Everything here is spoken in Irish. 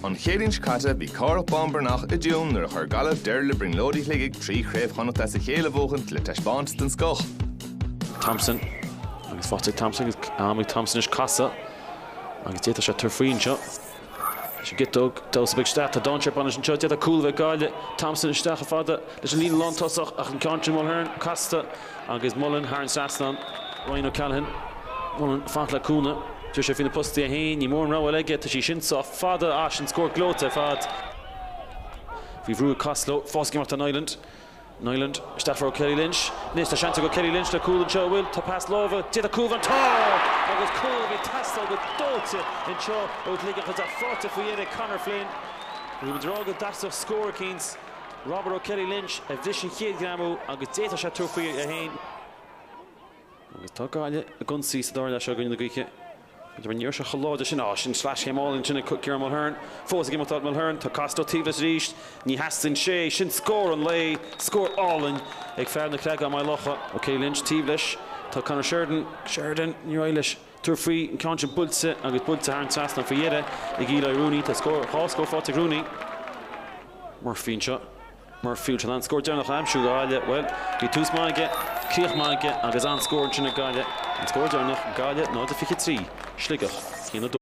An Chéadaoin seo caite, bhí Cárthach Bán Breathnach i dtiúin nuair a chuir Gaillimh deireadh le brionglóidí Shligigh trí Chraobh Chonnacht as a chéile a bhuachaint le taispeántas den scoth. Thompson agus faighte ag Thompson agus am ag Thompson anois casadh agus d'fhéadfadh sé tabhairt faoi anseo. Sin giota damhsa beag isteach a d'fhan sé bainis anseo. D'fhéadfá cúl a bheith ag Gaillimh Thompson isteach chomh fada leis an líne lántosach ach an ceann sin Mulhern casta agus Mulhern thar an trasnán. Ryan O'Callaghan, Mullen faighte le cúnna. Tá sé faoi na postaí é féin, ní mór an rogha eile aige, tá sí sin sách fada as ach scór gleoite ar fad. Faoi bhrú ag Costello, fós ag imeacht ar an Niland. Niland, isteach O'Kelly Lynch, anois tá seans ag O'Kelly Lynch le cúl anseo an bhfuil tá pas láimhe, d'fhéadfadh cúl bheith ann tá! Agus cúl a bhí ag teastáil go dóite anseo ó Shligeach tá sé faighte faoi dheireadh ag Conor Flynn. Rud a d'fhág go dteastódh scór eicínt Robert O'Kelly Lynch a bhris an chéad ghreamú agus d'fhéadfadh sé tabhairt faoi é féin. Agus tá Gaillimh i gceannas sa dara leath seo in aghaidh na gaoithe. B'fhéidir an iarracht seo chomh láidir sin. Á, sin sleaschéim álainn ansin ag Ciarán Mulhern. Fós ag imeacht dóibh. Mulhern, tá Costello taobh leis arís. Ní theastaíonn sé. Sin scór an lae. Scór álainn ag fear na Creagán Maigh Locha. O'Kelly Lynch taobh leis. Tá Conor Sheridan. Sheridan, níor éirigh leis tabhairt faoi. An ceann sin buailte agus buailte thar an trasnán faoi dheireadh ag Eli Rooney. Tá scór, dhá scór faighte ag Rooney. Murphy anseo. Murphy an scór deireanach á aimsiú ag Gaillimh. Bhuel, bhí tús maith aige, críoch maith aige agus an-scór ansin ag Gaillimh. An scór deireanach, Gaillimh 0-23, Sligeach 1-2.